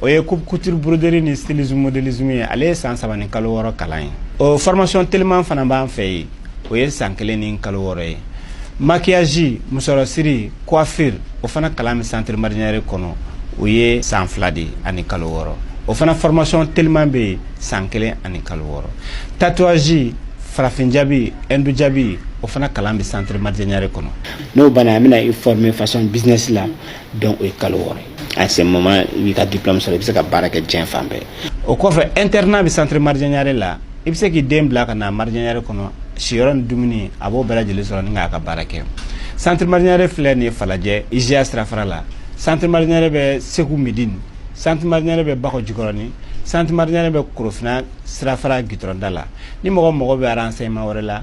o ye coupe couture broderie ni stylisme modélisme ye ale ye san saba ni kalo wɔɔrɔ kalan ye o formation teliman fana b'an fɛ yen o ye san kelen ni kalo wɔɔrɔ ye maquillage musɔrɔsiri coiffure o fana kalan bɛ centre marjanyare kɔnɔ o ye san fila de ani kalo wɔɔrɔ o fana formation teliman bɛ yen san kelen ani kalo wɔɔrɔ tatouage farafin jabi hindu jabi o fana kalan bɛ centre marjanyare kɔnɔ n'o banna an bɛna i former fashion business la donc o ye kalo wɔɔrɔ ye à ce moment i b'i ka diplôme sɔrɔ i bɛ se ka baara kɛ diɲɛ fan bɛɛ o kɔfɛ internat bɛ centre marjanyare la i bɛ se k'i den bila ka na marjanyare kɔnɔ siyɔrɔ ni dumuni a b'o bɛɛ lajɛlen sɔrɔ ni k'a ka baara kɛ centre marjanyare filɛ nin ye falajɛ iziya sirafara la centre marjanyare bɛ segu midini centre marjanyare bɛ bakɔ jikɔrɔni centre marjanyare bɛ korofina sirafara gitɔrɔnda la ni mɔgɔ mago bɛ renseignement wɛrɛ la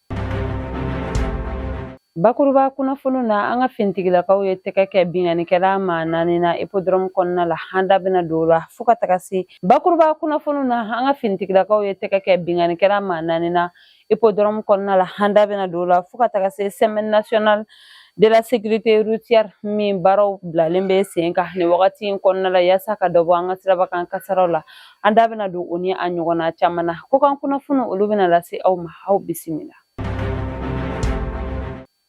bakuruba kunnafoniw na an ka finitigilakaw ye tɛgɛ kɛ binkannikɛla maa naani na ipodɔrɔmu kɔnɔna la an da bɛna don o la fo ka taga se bakuruba kunnafoniw na an ka finitigilakaw ye tɛgɛ kɛ binkannikɛla maa naani na ipodɔrɔmu kɔnɔna la an da bɛna don o la fo ka taga se semaine nationale de la sécurité routière min baaraw bilalen bɛ sen kan nin wagati in kɔnɔna la yaasa ka dɔ bɔ an ka siraba kan kasaraw la an da bɛna don o ni a ɲɔgɔnna caman na ko kan kunnafoni olu bɛna lase aw ma aw bisimila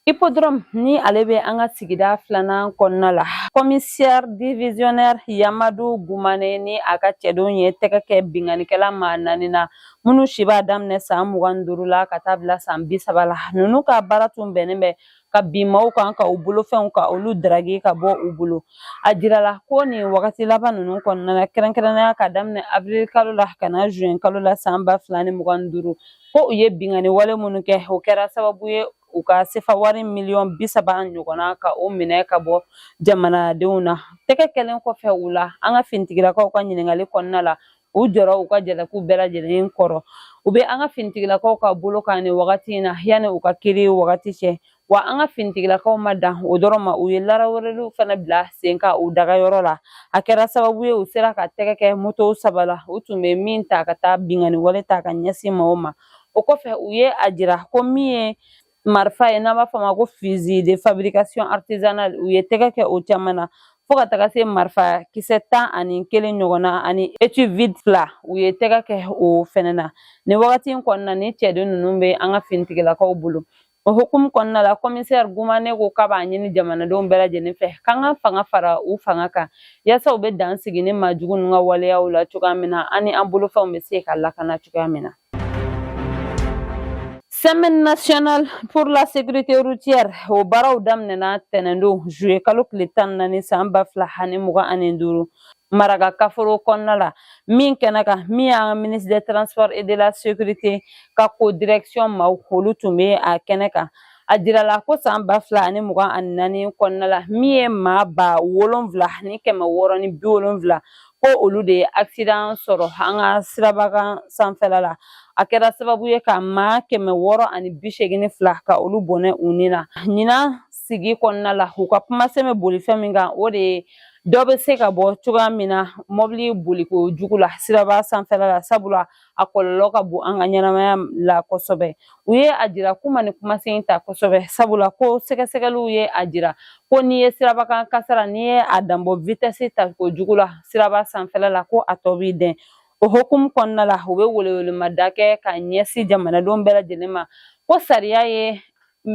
Hippodrome ni ale bɛ an ka sigida filanan kɔnɔna la commissaire divisionnaire Yamadu Gumane ni a ka cɛdenw ye tɛgɛ kɛ binkannikɛla maa naani na minnu si b'a daminɛ san mugan ni duuru la ka taa bila san bi saba la ninnu ka baara tun bɛnnen bɛ ka bin maaw kan ka u bolofɛnw ka olu daragi ka bɔ u bolo a jirala ko nin wagati laban ninnu kɔnɔna na kɛrɛnkɛrɛnnenya ka daminɛ awirili kalo la ka na zuwɛn kalo la san ba fila ni mugan ni duuru ko u ye binkanni wale minnu kɛ o kɛra sababu ye u ka sefa wari miliyɔn bi saba ɲɔgɔnna ka o minɛ ka bɔ jamanadenw na tɛgɛ kɛlen kɔfɛ u la an ka finitigilakaw ka ɲininkali kɔnɔna la u jɔra u ka jalakiw bɛɛ lajɛlen kɔrɔ u bɛ an ka finitigilakaw ka bolo kan nin wagati in na yanni u ka kiri wagati cɛ wa an ka finitigilakaw ma dan o dɔrɔn ma u ye laraweleliw fana bila sen kan u dagayɔrɔ la a kɛra sababu ye u sera ka tɛgɛ kɛ motow saba la u tun bɛ min ta ka taa binkanni wale ta ka ɲɛsin maaw ma o kɔfɛ u ye a jira ko min ye marifa ye n'an b'a fɔ a ma ko fusil de fabrication artisanale u ye tɛgɛ kɛ o caman na fo ka taga se marifa kisɛ tan ani kelen ɲɔgɔnna ani étui vide fila u ye tɛgɛ kɛ o fɛnɛ na nin wagati in kɔnɔna ni cɛden ninnu bɛ an ka finitigilakaw bolo o hukumu kɔnɔna la kɔmisɛri gumane ko k'a b'a ɲini jamanadenw bɛɛ lajɛlen fɛ k'an ka fanga fara u fanga kan yaasa u bɛ dan sigi nin maajugu ninnu ka waleyaw la cogoya min na an ni an bolofɛnw bɛ se ka lakana cogoya min na Semaine nationale pour la sécurité routière o baaraw daminɛna tɛnɛndon juillet kalo tile tan ni naani san ba fila ani mugan ani duuru maraka kaforo kɔnɔna la min kɛnɛ kan min y'an ka ministre des transports et de la sécurité ka ko direction maaw olu tun bɛ a kɛnɛ kan a jirala ko san ba fila ani mugan ani naani kɔnɔna la min ye maa ba wolonfila ni kɛmɛ wɔɔrɔ ni bi wolonfila ko olu de ye accident sɔrɔ an ka siraba kan sanfɛla la a kɛra sababu ye ka maa kɛmɛ wɔɔrɔ ani bi seegin ni fila ka olu bɔnɛ u ni na ɲinan sigi kɔnɔna la u ka kumasen bɛ boli fɛn min kan o de ye dɔ bɛ se ka bɔ cogoya min na mɔbili boliko jugu la siraba sanfɛla la sabula a kɔlɔlɔ ka bon an ka ɲɛnamaya la kosɛbɛ u ye a jira k'u ma nin kumasen ta kosɛbɛ sabula ko sɛgɛsɛgɛliw ye a jira ko n'i ye sirabakan kasara n'i ye a danbɔ vitesse takojugu la siraba sanfɛla la ko a tɔ b'i dɛn o hukumu kɔnɔna la u bɛ welewelemada kɛ ka ɲɛsin jamanadenw bɛɛ lajɛlen ma ko sariya ye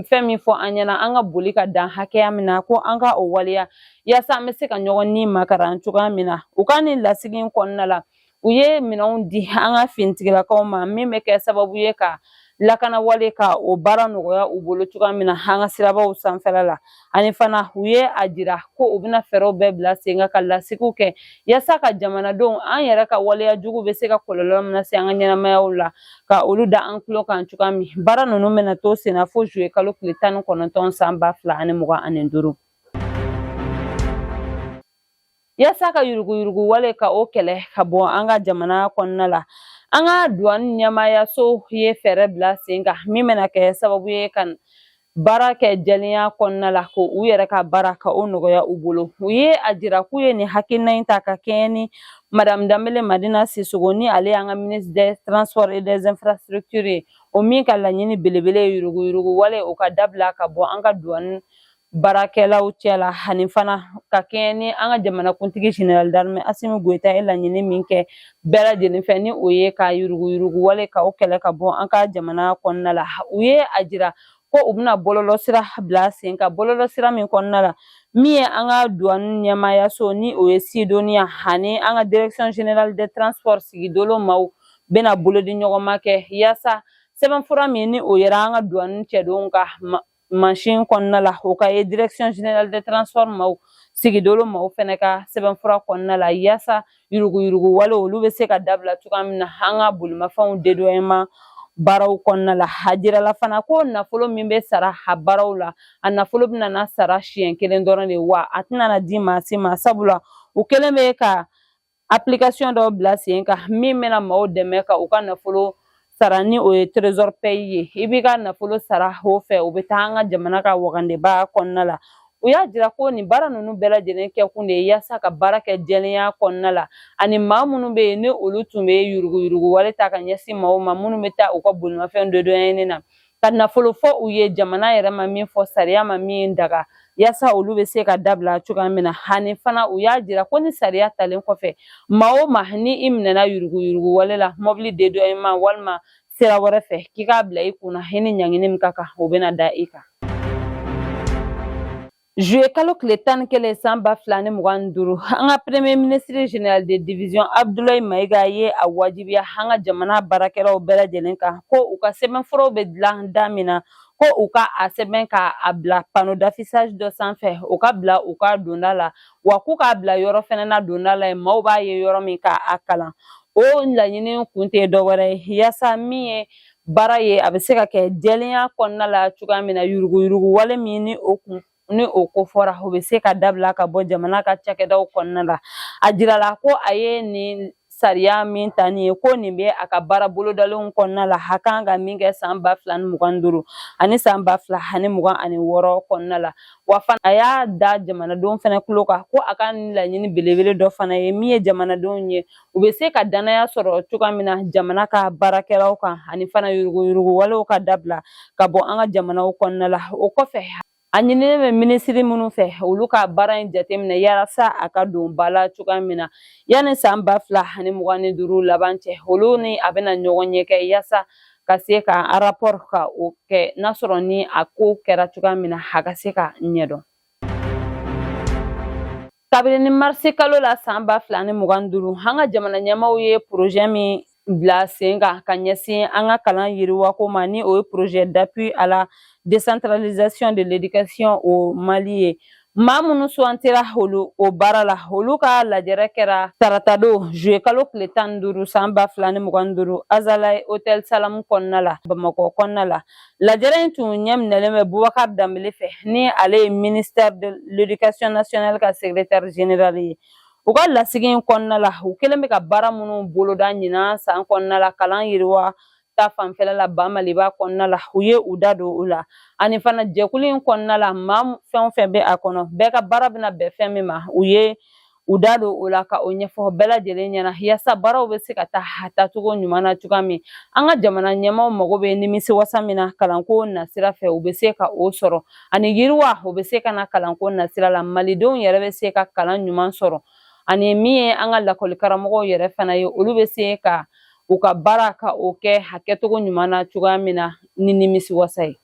fɛn min fɔ an ɲɛna an ka boli ka dan hakɛya min na ko an ka o waleya yaasa an bɛ se ka ɲɔgɔn ni makaran cogoya min na u ka nin lasigi in kɔnɔna la u ye minɛnw di an ka finitigilakaw ma min bɛ kɛ sababu ye ka lakanawale ka o baara nɔgɔya u bolo cogoya min na an ka sirabaw sanfɛla la ani fana u ye a jira ko u bɛna fɛɛrɛw bɛɛ bila sen kan ka lasigiw kɛ yasa ka jamanadenw an yɛrɛ ka waleya jugu bɛ se ka kɔlɔlɔ min lase an ka ɲɛnamayaw la ka olu da an tulo kan cogoya min baara ninnu bɛna to sen na fo juillet kalo tile tan ni kɔnɔntɔn san ba fila ani mugan ani duuru Yasa ka yuruguyurugu wale ka o kɛlɛ ka bɔ an ka jamana kɔnɔna la an ka duwani ɲɛmaayaso ye fɛɛrɛ bila sen kan min bɛna kɛ sababu ye ka baara kɛ jɛlenya kɔnɔna la k'u yɛrɛ ka baara ka o nɔgɔya u bolo u ye a jira k'u ye nin hakilina in ta ka kɛɲɛ ni Madamu Danbele Madina Sisoko ni ale y'an ka ministre des transports et des infrastructures ye o min ka laɲini belebele ye yuruguyurugu wale o ka dabila ka bɔ an ka duwani baarakɛlaw cɛla ani fana ka kɛɲɛ ni an ka jamanakuntigi général d'armée Assimi Goïta ye laɲini min kɛ bɛɛ lajɛlen fɛ ni o ye ka yuruguyurugu wale ka o kɛlɛ ka bɔ an ka jamana kɔnɔna la u ye a jira ko u bɛna bɔlɔlɔsira bila sen kan bɔlɔlɔsira min kɔnɔna la min ye an ka duwani ɲɛmaayaso ni o ye Sydonia ani an ka direction générale des transports sigidolo maaw bɛna bolodiɲɔgɔnma kɛ yaasa sɛbɛnfura min ni o yera an ka duwani cɛdenw ka machine kɔnɔna la o ka ye direction générale des transports maaw sigidolo maaw fɛnɛ ka sɛbɛnfura kɔnɔna la yaasa yuruguyurugu wale olu bɛ se ka dabila cogoya min na an ka bolimafɛnw dédouanement baaraw kɔnɔna la a jirala fana ko nafolo min bɛ sara a baaraw la a nafolo bɛna na sara siɲɛ kelen dɔrɔn de wa a tɛna na di maa si ma sabula u kɛlen bɛ ka application dɔ bila sen kan min bɛna maaw dɛmɛ ka u ka nafolo sara ni o ye trésor paye ye i b'i ka nafolo sara o fɛ o bɛ taa an ka jamana ka wagandenba kɔnɔna la u y'a jira ko nin baara ninnu bɛɛ lajɛlen kɛkun de ye yaasa ka baara kɛ jɛlenya kɔnɔna la ani maa minnu bɛ yen ni olu tun bɛ yuruguyurugu wale ta ka ɲɛsin maaw ma minnu bɛ taa u ka bolimafɛn dodonyɛni na ka nafolo fɔ u ye jamana yɛrɛ ma min fɔ sariya ma min daga yasa olu bɛ se ka dabila cogoya min na hani fana u y'a jira ko ni sariya talen kɔfɛ maa o maa ni i minɛna yuruguyurugu wale la mɔbili dédouanement walima sira wɛrɛ fɛ k'i k'a bila i kunna i ni ɲangini min ka kan o bɛna da i kan Zuye kalo tile tan ni kelen san ba fila ni mugan ni duuru an ka premier ministre général de division abdulayi mayiga ye a wajibiya an ka jamana baarakɛlaw bɛɛ lajɛlen kan ko u ka sɛbɛnfuraw bɛ dilan da min na ko u ka a sɛbɛn ka a bila panneau d'affichage dɔ sanfɛ u ka bila u ka donda la wa k'u k'a bila yɔrɔ fɛnɛ na donda la yen maaw b'a ye yɔrɔ min ka a kalan o laɲini kun tɛ dɔwɛrɛ ye yaasa min ye baara ye a bɛ se ka kɛ jɛlenya kɔnɔna la cogoya min na yuruguyurugu wale min ni o ko fɔra o bɛ se ka dabila ka bɔ jamana ka cakɛdaw kɔnɔna la a jirala ko a ye nin sariya min ta nin ye ko nin bɛ a ka baara bolodalenw kɔnɔna la a kan ka min kɛ san ba fila ni mugan ni duuru ani san ba fila ani mugan ani wɔɔrɔ kɔnɔna la wa fana a y'a da jamanadenw fana tulo kan ko a ka nin laɲini belebele dɔ fana ye min ye jamanadenw ye u bɛ se ka danaya sɔrɔ cogoya min na jamana ka baarakɛlaw kan ani fana yuruguyuruguwalew ka dabila ka bɔ an ka jamanaw kɔnɔna la o kɔfɛ a ɲinilen bɛ minisiri minnu fɛ olu ka baara in jateminɛ yalasa a ka don ba la cogoya min na yanni san ba fila ani mugan ni duuru laban cɛ olu ni a bɛna ɲɔgɔnye kɛ yasa ka se ka rapport ka o kɛ n'a sɔrɔ ni a ko kɛra cogoya min na a ka se k'a ɲɛdɔn kabini ni marisi kalo la san ba fila ni mugan duuru an ka jamana ɲɛmaaw ye projet min bila sen kan ka ɲɛsin an ka kalan yiriwako ma ni o ye projet d'appui à la décentralisation de l'éducation au mali ye maa minnu sugantira o baara la olu ka lajɛrɛ kɛra taratadon juye kalo tile tan ni duuru san ba fila ni mugan ni duuru azalaï hôtel salamu kɔnɔna la bamakɔ kɔnɔna la Lajɛrɛ in tun ɲɛminɛlen bɛ Bubakar Dambele fɛ ni ale ye ministère de l'éducation nationale ka secrétaire général ye. U ka lasigi in kɔnɔna la, u kɛlen bɛ ka baara minnu boloda ɲinan san kɔnɔna la kalan yiriwa ta fanfɛla la ba maliba kɔnɔna la u ye u da don o la ani fana jɛkulu in kɔnɔna la maa fɛn o fɛn bɛ a kɔnɔ bɛɛ ka baara bɛna bɛn fɛn min ma u ye u da don o la ka o ɲɛfɔ bɛɛ lajɛlen ɲɛna yasa baaraw bɛ se ka taa a taacogo ɲuman na cogoya min an ka jamana ɲɛmaaw mago bɛ nimisi wasa min na kalanko nasira fɛ u bɛ se ka o sɔrɔ ani yiriwa o bɛ se ka na kalanko nasira la malidenw yɛrɛ bɛ se ka kalan ɲuman sɔrɔ ani min ye an ka lakɔli karamɔgɔw yɛrɛ fana ye olu bɛ se ka u ka baara ka o kɛ a kɛcogo ɲuman na cogoya min na ni nimisi wasa ye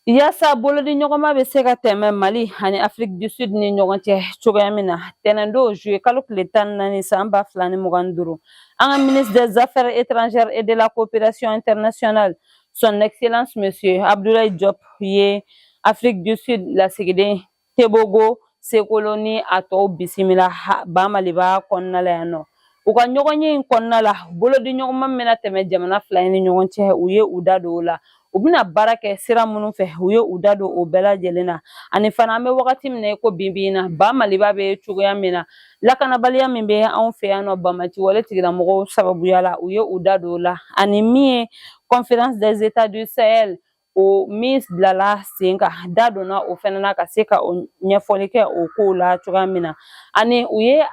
Yasa bolodi ɲɔgɔnma bɛ se ka tɛmɛ Mali ani Afrique du Sud ni ɲɔgɔn cɛ cogoya min na, tɛnɛndon juillet kalo tile tan ni naani san ba fila ni mugan ni duuru, an ka ministre des Affaires étrangères et de la coopération internationale, son excellence monsieur Abdoulaye Diop ye Afrique du Sud lasigiden tebogo seokolo ni a tɔw bisimila ba maliba kɔnɔna la yan nɔ u ka ɲɔgɔnye in kɔnɔna la bolodi ɲɔgɔnma bɛna tɛmɛ jamana fila in ni ɲɔgɔn cɛ u ye u da don o la u bɛna baara kɛ sira minnu fɛ u ye u da don o bɛɛ lajɛlen na ani fana an bɛ wagati min na ko bi bi in na ba maliba bɛ cogoya min na lakanabaliya min bɛ anw fɛ yan nɔ banbaanci wale tigilamɔgɔw sababuya la u ye u da don o la ani min ye conférence des états du sahel o min bilala sen kan da donna o fɛnɛ na ka se ka o ɲɛfɔli kɛ o kow la cogoya min na ani u ye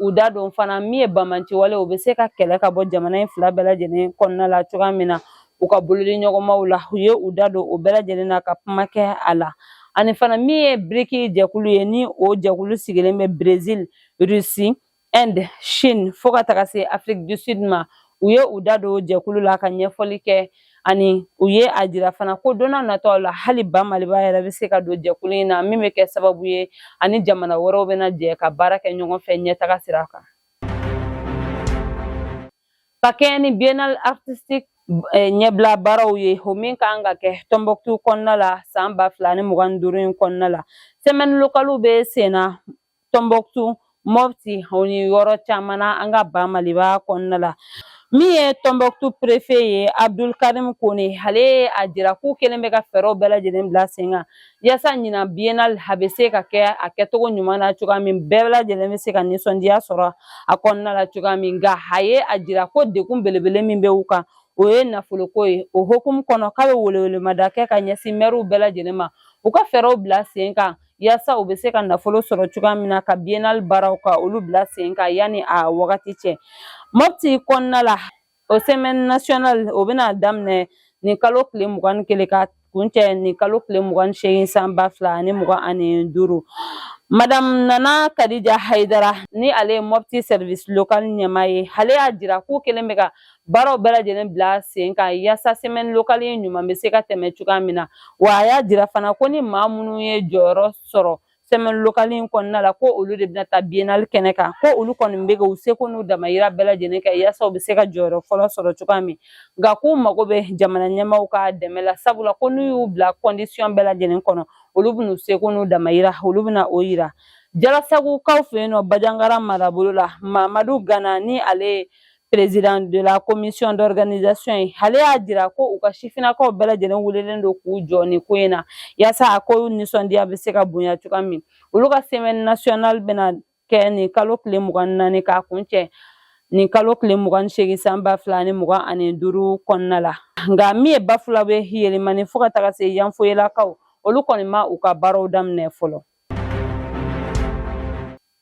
u da don fana min ye banbaanci wale o bɛ se ka kɛlɛ ka bɔ jamana in fila bɛɛ lajɛlen kɔnɔna la cogoya min na u ka bolodi ɲɔgɔnmaw la u ye u da don o bɛɛ lajɛlen na ka kuma kɛ a la ani fana min ye brics jɛkulu ye ni o jɛkulu sigilen bɛ brésil russie Inde, Chine fo ka taga se Afrique du Sud ma u ye u da don jɛkulu la ka ɲɛfɔli kɛ ani u ye a jira fana ko don nataw la hali ba maliba yɛrɛ bɛ se ka don jɛkulu in na min bɛ kɛ sababu ye a ni jamana wɛrɛw bɛna jɛ ka baara kɛ ɲɔgɔn fɛ ɲɛtaga sira kan ka kɛɲɛ ni biennale artistique eh, ɲɛbila baaraw ye o min ka kan ka kɛ Tombouctou kɔnɔna la san ba fila ni mugan ni duuru in kɔnɔna la semaine localew bɛ sen na tombouctou mopti o ni yɔrɔ caman na an ka ba maliba kɔnɔna la min ye tombouctou préfet ye abdul karim kone ale ye a jira k'u kɛlen bɛ ka fɛɛrɛw bɛɛ lajɛlen bila sen kan yasa ɲinan biennale a bɛ se ka kɛ a kɛcogo ɲuman na cogoya min bɛɛ lajɛlen bɛ se ka nisɔndiya sɔrɔ a kɔnɔna la cogoya min nka a ye a jira ko degun belebele min bɛ u kan o ye nafoloko ye o hukumu kɔnɔ k'a bɛ welewelemada kɛ ka ɲɛsin mɛriw bɛɛ lajɛlen ma u ka fɛɛrɛw bila sen kan yaasa u bɛ se ka nafolo sɔrɔ cogoya min na ka biennale baaraw ka olu bila sen kan yanni a wagati cɛ mopti kɔnɔna la o semaine nationale o bɛna daminɛ nin kalo tile mugan ni kelen ka kuncɛ nin kalo tile mugan ni seegin san ba fila ani mugan ani duuru Madame Nana Kadija Haidara ni ale ye Mopti service local ɲɛmaa ye ale y'a jira k'u kɛlen bɛ ka baaraw bɛɛ lajɛlen bila sen kan yaasa semaine locale in ɲuman bɛ se ka tɛmɛ cogoya min na wa a y'a jira fana ko ni maa minnu ye jɔyɔrɔ sɔrɔ semaine locale in kɔnɔna la ko olu de bɛna taa biennale kɛnɛ kan ko olu kɔni bɛ k'u seko n'u damayira bɛɛ lajɛlen kɛ yaasa u bɛ se ka jɔyɔrɔ fɔlɔ sɔrɔ cogoya min nka k'u mago bɛ jamana ɲɛmaaw ka dɛmɛ la sabula ko n'u y'u bila condition bɛɛ lajɛlen kɔnɔ olu bɛn'u seko n'u damayira olu bɛna o yira jalasagukaw fɛ yen nɔ bajangara marabolo la mamadu gana ni ale ye Président de la commission d'organisation ye ale y'a jira ko u ka sifinnakaw bɛɛ lajɛlen wulilen don k'u jɔ nin ko in na yaasa a ko nisɔndiya bɛ se ka bonya cogoya min olu ka semaine nationale bɛna kɛ nin kalo tile mugan ni naani k'a kuncɛ nin kalo tile mugan ni seegin san ba fila ani mugan ani duuru kɔnɔna la nka min ye bafulabe yelimani fo ka taga se yanfoyelakaw olu kɔni ma u ka baaraw daminɛ fɔlɔ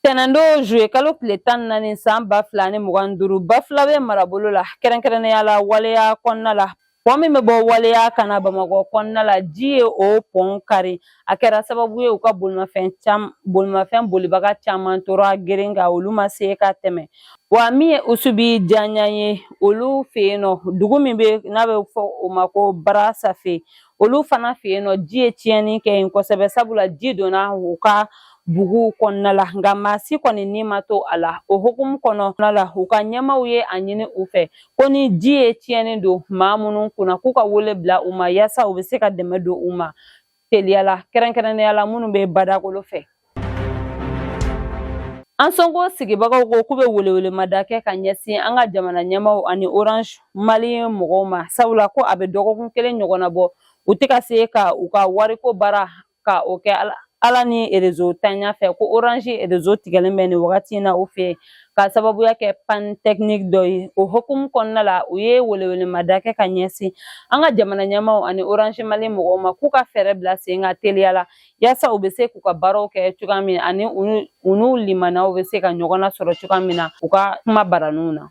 Tɛnɛndon juillet kalo tile tan ni naani san ba fila ni mugan ni duuru bafulabe marabolo la kɛrɛnkɛrɛnnenya la waleya kɔnɔna la pɔn min bɛ bɔ waleya ka na bamakɔ kɔnɔna la ji ye o pɔn kari a kɛra sababu ye u ka bolimafɛn caman bolimafɛn bolibaga caman tora geren kan olu ma se ka tɛmɛ wa min ye usubijanɲa ye olu fɛ yen nɔ dugu min bɛ n'a bɛ fɔ o ma ko barasafe olu fana fɛ yen nɔ ji ye tiɲɛni kɛ yen kosɛbɛ sabula ji donna u ka buguw kɔnɔna la nka maa si kɔni ni ma to a la o hukumu kɔnɔna la u ka ɲɛmaaw ye a ɲini u fɛ ko ni ji ye tiɲɛni don maa minnu kunna k'u ka wele bila u ma yaasa u bɛ se ka dɛmɛ don u ma teliya la kɛrɛnkɛrɛnnenya la minnu bɛ badakolo fɛ Ansongo sigibagaw ko k'u bɛ welewelemada kɛ ka ɲɛsin an ka jamana ɲɛmaaw ani orange mali mɔgɔw ma sabula ko a bɛ dɔgɔkun kelen ɲɔgɔnna bɔ u tɛ ka se ka u ka wariko baara ka o kɛ ala ni erezo tanya fɛ ko orange erezo tigɛlen bɛ nin wagati in na u fɛ ka sababuya kɛ panne technique dɔ ye o hokumu kɔnɔna la u ye welewelemada kɛ ka ɲɛsin an ka jamana ɲɛmaaw ani orange mali mɔgɔw ma k'u ka fɛɛrɛ bila sen kan teliya la yaasa u bɛ se k'u ka baaraw kɛ cogoya min ani u n'u limanaw bɛ se ka ɲɔgɔn na sɔrɔ cogoya min na u ka kumabaraninw na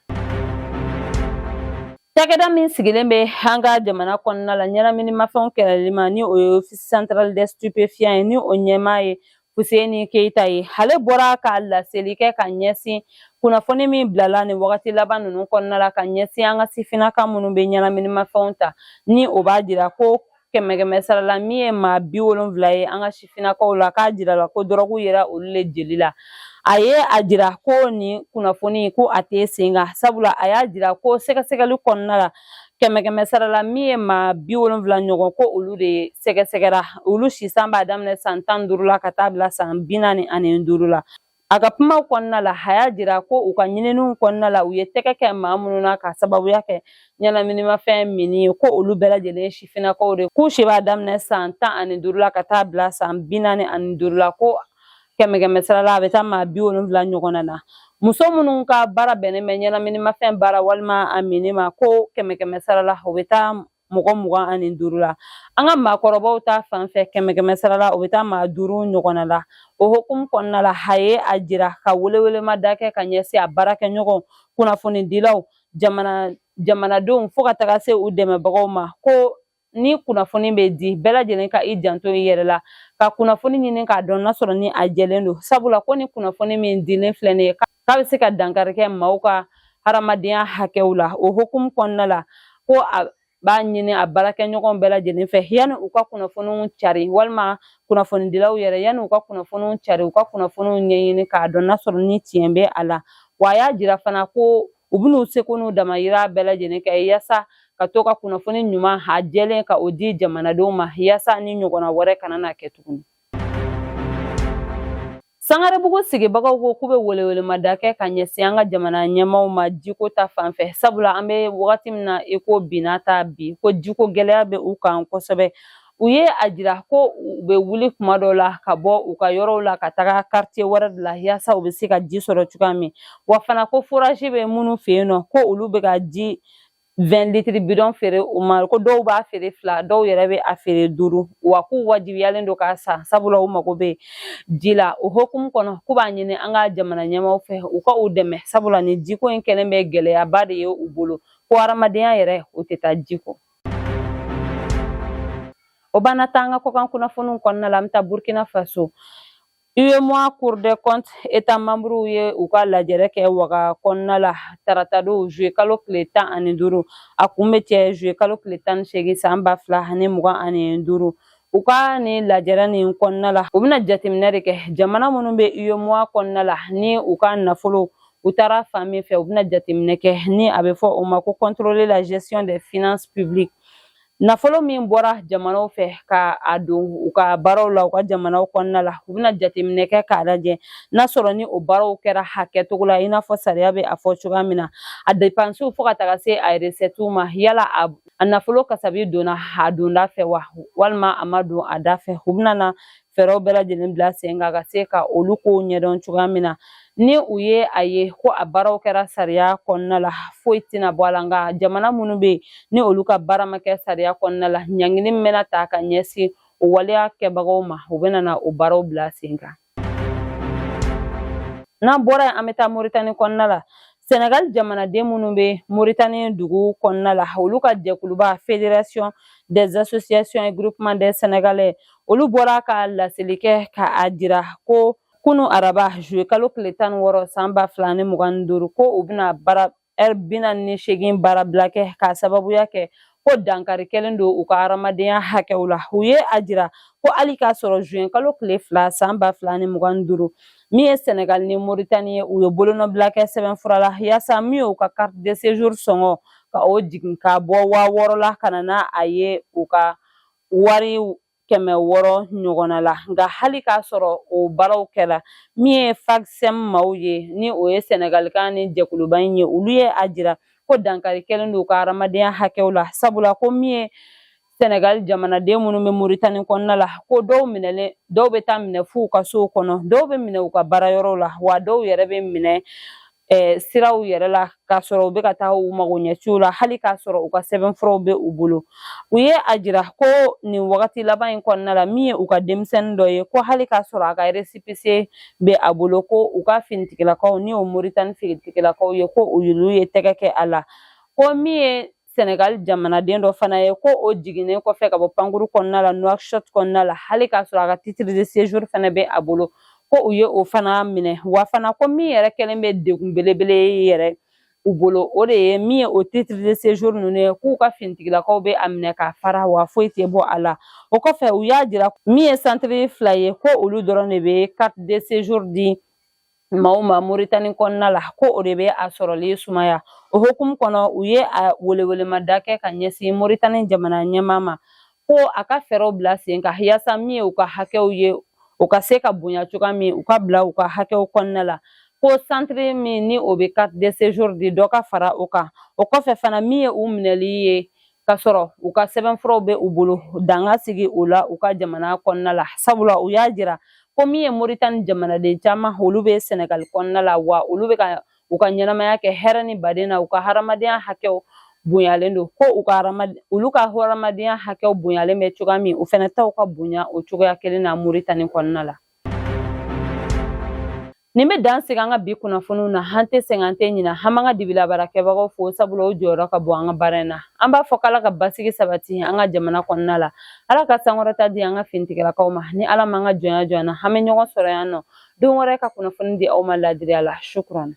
cakɛda min sigilen bɛ an ka jamana kɔnɔna la ɲɛnaminimafɛnw kɛlɛli ma ni o ye office central des stupéfiants ye ni o ɲɛmaa ye Fuseni Keyita ye ale bɔra ka laseli kɛ ka ɲɛsin kunnafoni min bilala nin wagati laban ninnu kɔnɔna la ka ɲɛsin an ka sifinnaka minnu bɛ ɲɛnaminimafɛnw ta ni o b'a jira ko kɛmɛ kɛmɛ sara la min ye maa bi wolonfila ye an ka sifinnakaw la k'a jirala ko dɔrɔgu yera olu le jeli la a ye a jira ko nin kunnafoni ko a tɛ sen kan sabula a y'a jira ko sɛgɛsɛgɛli kɔnɔna la kɛmɛ kɛmɛ sara la min ye maa bi wolonfila ɲɔgɔn ko olu de ye sɛgɛsɛgɛra olu si san b'a daminɛ san tan duuru la ka taa bila san bi naani ani duuru la A ka kuma kɔnɔna la a y'a jira ko u ka ɲininiw kɔnɔna la u ye tɛgɛ kɛ maa minnu na ka sababuya kɛ ɲɛnaminimafɛn minni ye ko olu bɛɛ lajɛlen sifinnakaw de k'u si b'a daminɛ san tan ani duuru la ka taa bila san bi naani ani duuru la ko kɛmɛ kɛmɛ sara la a bɛ taa maa bi wolonwula ɲɔgɔnna na muso minnu ka baara bɛnnen bɛ ɲɛnaminimafɛn baara walima a minni ma ko kɛmɛ kɛmɛ sara la o bɛ taa mɔgɔ mugan ani duuru la an ka maakɔrɔbaw ta fan fɛ kɛmɛ kɛmɛ sara la o bɛ taa maa duuru ɲɔgɔnna la o hukumu kɔnɔna la a ye a jira ka welewelemada kɛ ka ɲɛsin a baarakɛɲɔgɔn kunnafonidilaw jamana jamanadenw fo ka taga se u dɛmɛbagaw ma ko ni kunnafoni bɛ di bɛɛ lajɛlen ka i janto i yɛrɛ la ka kunnafoni ɲini k'a dɔn n'a sɔrɔ ni a jɛlen don sabula ko ni kunnafoni min dilen filɛ nin ye k'a bɛ se ka dankari kɛ maaw ka hadamadenya hakɛw la o hukumu kɔnɔna la ko a b'a ɲini a baarakɛɲɔgɔn bɛɛ lajɛlen fɛ yanni u ka kunnafoniw cari walima kunnafonidilaw yɛrɛ yanni u ka kunnafoniw cari u ka kunnafoniw ɲɛɲini k'a dɔn n'a sɔrɔ ni tiɲɛ bɛ a la wa a y'a jira fana ko u bɛn'u seko n'u damayira bɛɛ lajɛlen kɛ yaasa ka to ka kunnafoni ɲuman a jɛlen ka o di jamanadenw ma yaasa nin ɲɔgɔnna wɛrɛ kana na kɛ tuguni Sangarebugu sigibagaw ko k'u bɛ welewelemada kɛ ka ɲɛsin an ka jamana ɲɛmaaw ma jiko ta fanfɛ sabula an bɛ wagati min na i ko binna ta bi ko jiko gɛlɛya bɛ u kan kosɛbɛ u ye a jira ko u bɛ wuli kuma dɔ la ka bɔ u ka yɔrɔw la ka taga karitiye wɛrɛ de la yaasa u bɛ se ka ji sɔrɔ cogoya min wa fana ko forazi bɛ minnu fɛ yen nɔ ko olu bɛ ka ji 20 litiri bidɔn feere u ma ko dɔw b'a feere fila dɔw yɛrɛ bɛ a feere duuru wa k'u wajibiyalen don k'a san sabula u mago bɛ ji la o hukumu kɔnɔ k'u b'a ɲini an ka jamana ɲɛmaaw fɛ u ka u dɛmɛ sabula nin jiko in kɛlen bɛ gɛlɛyaba de ye u bolo ko hadamadenya yɛrɛ o tɛ taa ji kɔ o b'an nataa an ka kɔkan kunnafoniw kɔnɔna la an bɛ taa Burkina Faso UEMOA Cour des comptes États membres ye u ka lajɛrɛ kɛ Waga kɔnɔna la tarata don juillet kalo tile tan ani duuru a kun bɛ cɛ juillet kalo tile tan ni seegin san ba fila ani mugan ani duuru u ka nin lajɛrɛ nin kɔnɔna la u bɛna jateminɛ de kɛ jamana minnu bɛ UEMOA kɔnɔna la ni u ka nafolow taara fan min fɛ u bɛna jateminɛ kɛ ni a bɛ fɔ o ma ko contrôler la gestion des finances publiques Nafolo min bɔra jamanaw fɛ ka a don u ka baaraw la u ka jamanaw kɔnɔna la u bɛna jateminɛ kɛ k'a lajɛ n'a sɔrɔ ni o baaraw kɛra a kɛcogo la i n'a fɔ sariya bɛ a fɔ cogoya min na a depansiw fo ka taga se a resɛtiw ma yala a nafolo kasabi donna a donda fɛ wa walima a ma don a da fɛ u bɛna na fɛɛrɛw bɛɛ lajɛlen bila sen kan ka se ka olu kow ɲɛdɔn cogoya min na ni u ye a ye ko a baaraw kɛra sariya kɔnɔna la foyi tɛna bɔ a la nka jamana minnu bɛ yen ni olu ka baara ma kɛ sariya kɔnɔna la ɲangini min bɛna ta ka ɲɛsin o waleya kɛbagaw ma u bɛna na o baaraw bila sen kan n'an bɔra yen an bɛ taa moritani kɔnɔna la Senegal jamanaden minnu bɛ Mauritanie dugu kɔnɔna la olu ka jɛkuluba Fédération des associations et groupements des Sénégalais olu bɔra ka laseli kɛ ka a jira ko kunu araba juillet kalo tile tan ni wɔɔrɔ san ba fila ni mugan ni duuru ko u bɛna baara ɛri bi naani ni seegin baarabila kɛ k'a sababuya kɛ ko dankari kɛlen don u ka hadamadenya hakɛw la u ye a jira ko hali k'a sɔrɔ juin kalo tile fila san ba fila ni mugan ni duuru min ye sɛnɛgali ni moritani ye u ye bolonɔbila kɛ sɛbɛnfura la yaasa min y'u ka carte de séjour sɔngɔ ka o jigin ka bɔ waa wɔɔrɔ la ka na n'a a ye u ka wari kɛmɛ wɔɔrɔ ɲɔgɔnna la nka hali k'a sɔrɔ o baaraw kɛra min ye FAGSEM maaw ye ni o ye sɛnɛgalikaw ni jɛkuluba in ye olu ye a jira ko dankari kɛlen don u ka hadamadenya hakɛw la sabula ko min ye sɛnɛgali jamanaden minnu bɛ moritani kɔnɔna la ko dɔw minɛlen dɔw bɛ taa minɛ f'u ka sow kɔnɔ dɔw bɛ minɛ u ka baarayɔrɔw la wa dɔw yɛrɛ bɛ minɛ siraw yɛrɛ la k'a sɔrɔ u bɛ ka taa u magoɲɛciw la hali k'a sɔrɔ u ka sɛbɛnfuraw bɛ u bolo u ye a jira ko nin wagati laban in kɔnɔna la min ye u ka denmisɛnnin dɔ ye ko hali k'a sɔrɔ a ka récépissé bɛ a bolo ko u ka finitigilakaw ni o moritani finitigilakaw ye ko olu ye tɛgɛ kɛ a la ko min ye Senegal jamanaden dɔ fana ye ko o jiginnen kɔfɛ ka bɔ pankuru kɔnɔna la Nouakchott kɔnɔna la hali k'a sɔrɔ a ka titre de séjour fana bɛ a bolo ko u ye o fana minɛ wa fana ko min yɛrɛ kɛlen bɛ degun belebele ye yɛrɛ u bolo o de ye min ye o titre de séjour ninnu ye k'u ka finitigilakaw bɛ a minɛ k'a fara wa foyi tɛ bɔ a la o kɔfɛ u y'a jira min ye centre fila ye ko olu dɔrɔn de bɛ carte de séjour di maaw ma moritani kɔnɔna la ko o de bɛ a sɔrɔli sumaya o hukumu kɔnɔ u ye a welewelemada kɛ ka ɲɛsin moritani jamana ɲɛmaa ma ko a ka fɛɛrɛw bila sen kan yaasa min ye u ka hakɛw ye o ka se ka bonya cogoya min u ka bila u ka hakɛw kɔnɔna la ko centre min ni o bɛ carte de séjour di dɔ ka fara o kan o kɔfɛ fana min ye u minɛli ye k'a sɔrɔ u ka sɛbɛnfuraw bɛ u bolo dan ka sigi o la u ka jamana kɔnɔna la sabula u y'a jira ko min ye moritani jamanaden caman olu bɛ sɛnɛgali kɔnɔna la wa olu bɛ ka u ka ɲɛnamaya kɛ hɛrɛ ni baden na u ka hadamadenya hakɛw bonyalen don ko u ka olu ka hadamadenya hakɛw bonyalen bɛ cogoya min u fɛnɛ taw ka bonya o cogoya kelen na moritani kɔnɔna la nin bɛ dan sigi an ka bi kunnafoniw na an tɛ sɛgɛn an tɛ ɲinɛ an b'an ka dibilabaarakɛbagaw fo sabula o jɔyɔrɔ ka bon an ka baara in na an b'a fɔ k'ala ka basigi sabati an ka jamana kɔnɔna la ala ka sankɔrɔta di an ka finitigilakaw ma ni ala m'an ka jɔnya jɔ an na an bɛ ɲɔgɔn sɔrɔ yan nɔ don wɛrɛ ka kunnafoni di aw ma laadiriya la sukuran